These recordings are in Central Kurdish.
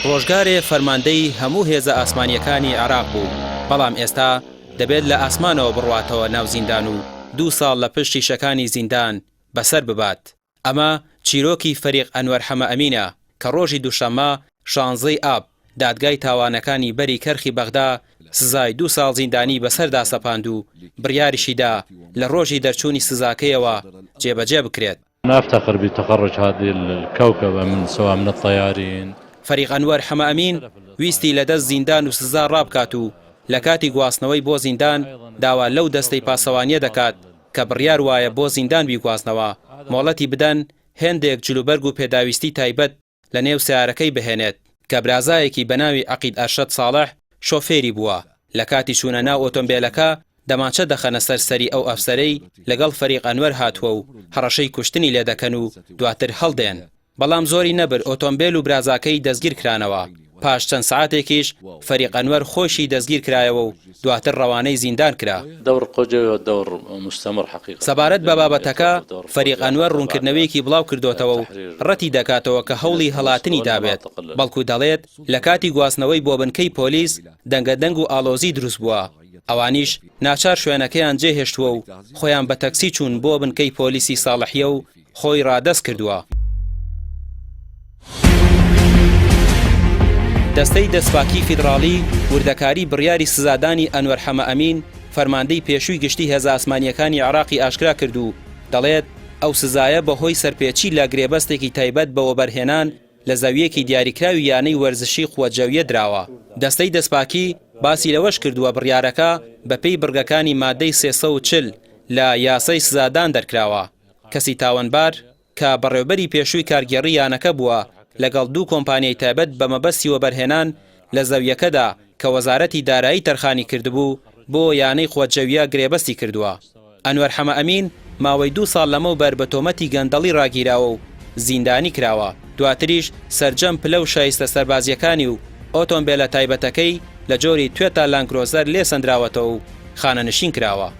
ڕۆژگارێ فەرماندەی هەموو هێزە ئاسمانییەکانی عێراق بوو، بەڵام ئێستا دەبێت لە ئاسمانەوە بڕواتەوە ناو زیندان و دوو ساڵ لە پشت شیشەکانی زیندان بەسەر ببات. ئەمە چیرۆکی فەریق ئەنوەر حەمەئەمینە کە ڕۆژی دووشەممە شانزەی ی ئاب، دادگای تاوانەکانی بەری کەرخی بەغدا سزای دوو ساڵ زیندانی بەسەردا سەپاند و بڕیاریشی دا لە ڕۆژی دەرچوونی سزاکەیەوە جێبەجێ بکرێت. نافتخر بتخرج هذه الكوكبە من سوا من الطيارین. فەریق ئەنوەر حەمەئەمین ویستی لە دەست زیندان و سزا ڕابکات و لە کاتی گواستنەوەی بۆ زیندان داوا لەو دەستەی پاسەوانییە دەکات کە بڕیار وایە بۆ زیندان بیگوازنەوە مۆڵەتی بدەن هێندێک جلوبەرگ و پێداویستی تایبەت لە نێو سەیارەکەی بهێنێت، کە برازایەکی بە ناوی عەقید ئەرشەد ساڵح شۆفێری بووە، لە کاتی چوونە ناو ئۆتۆمبێلەکە دەمانچە دەخەنە سەر سەری ئەو ئەفسەرەی لەگەڵ فەریق ئەنوەر هاتووە و هەڕەشەی کوشتنی لێدەکەن و دواتر هەڵدێن، بەڵام زۆری نەبرد ئۆتۆمبێل و برازاکەی دەستگیرکرانەوە. پاش چەند سەعاتێکیش فەریق ئەنوەر خۆیشی دەستگیر کرایەوە و دواتر ڕەوانەی زیندان کرا. سەبارەت بە بابەتەکە، فەریق ئەنوەر ڕوونکردنەوەیەکی بڵاوکردۆتەوە و ڕەتی دەکاتەوە کە هەوڵی هەڵاتنی دابێت، بەڵکو دەڵێت لە کاتی گواستنەوەی بۆ بنکەی پۆلیس دەنگەدەنگ و ئاڵۆزی دروستبووە، ئەوانیش ناچار شوێنەکەیان جێهێشتووە و خۆیان بە تەکسی چوون بۆ بنکەی پۆلیسی ساڵحیە و خۆی ڕادەست کردووە. دەستەی دەستپاکیی فیدڕاڵی وردەکاریی بڕیاری سزادانی ئەنوەر حەمە ئەمین، فەرماندەی پێشووی گشتیی هێزە ئاسمانییەکانی عێراقی ئاشکرا کرد و دەڵێت، ئەو سزایە بەهۆی سەرپێچی لە گرێبەستێکی تایبەت بە وەبەرهێنان لە زەوییەکی دیاریکراوی یانەی وەرزشیی قوە جەوییە دراوە. دەستەی دەستپاکی باسی لەوەش کردووە، بڕیارەکە بەپێی بڕگەکانی مادەی سێ سەد و چل لە یاسای سزادان دەرکراوە. کەسی تاوەنبار، کە بەڕێوبەری پێشووی کارگێڕی یانەکە بووە، لەگەڵ دوو کۆمپانیای تایبەت بە مەبەستی وەبەرهێنان لە زەوییەکەدا کە وەزارەتی دارایی تەرخانی کردبوو بۆ یانەی قوە جەوییە گرێبەستی کردووە. ئەنوەر حەمەئەمین ماوەی دوو ساڵ لەمەوبەر بە تۆمەتی گەندەڵی راگیراوە و زیندانی کراوە، دواتریش سەرجەم پلە و شایستە سەربازییەکانی و ئۆتۆمبێلە تایبەتەکەی لە جۆری توێتا لانکرۆزەر لێ سەندراوەتەوە و خانەنشین کراوە.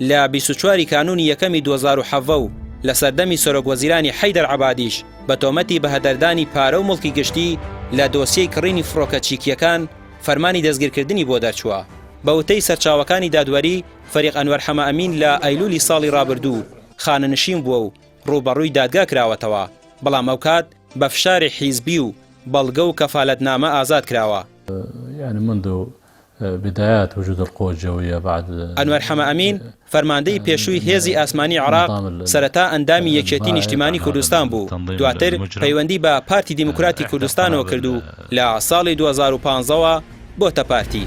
لە بیست و چوار ی کانوونی یەکەمی دوو هەزار و حەڤە و لە سەردەمی سەرۆک وەزیرانی حەیدەر عەبادیش بە تۆمەتی بەهەدەردانی پارە و موڵکی گشتی لە دۆسیەی کڕینی فڕۆکە چیکییەکان فەرمانی دەستگیرکردنی بۆ دەرچووە. بە وتەی سەرچاوەکانی دادوەری، فەریق ئەنوەر حەمەئەمین لە ئەیلوولی ساڵی رابردوو خانەنشین بووە و رووبەڕووی دادگا کراوەتەوە، بەڵام ئەوکات بە فشاری حیزبی و بەڵگە و کەفالەتنامە ئازاد کراوە. بدايات وجود القوى الجوية بعد. ئەنوەر حەمەئەمین، فەرماندەی پێشووی هێزی ئاسمانی عێراق، سەرەتا ئەندامی یەکێتی نیشتیمانی کوردستان بوو، دواتر پەیوەندی بە پارتی دیموکراتی کوردستانەوە کرد و لە ساڵی دوو هەزار و پازدە وە بۆتە پارتی.